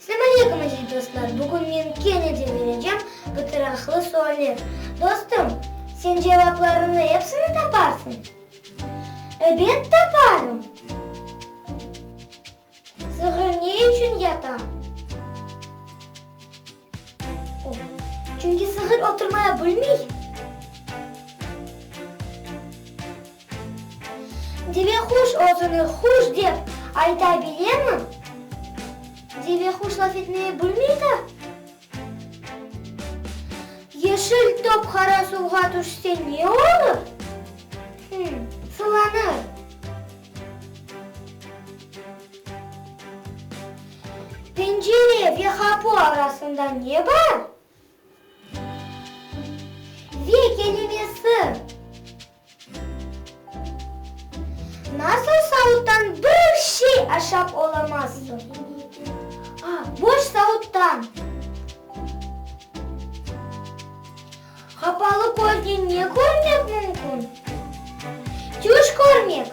Selam aleyküm aziz dostlar, bugün men kene de berecem gıtıraqlı sualler. Dostum, sen cevaplarını epsini taparsıñ? Ebet taparım! Sığır ne içün yata? O, çünki sığır oturmaya bilmey. Devequş özüni quş dep ayta bilemi? Devequş laf etmeye bilmeydi. Yeşil top qara suvğa tüşse ne olur? Hım, sulanır. Pencere ve qapu arasında ne bar? Ve kelimesi. Nasıl savuttan bir şey aşap olamazsıñ? A. Boş savuttan. Qapalı köznen ne körmek mümkün? Tüş körmek.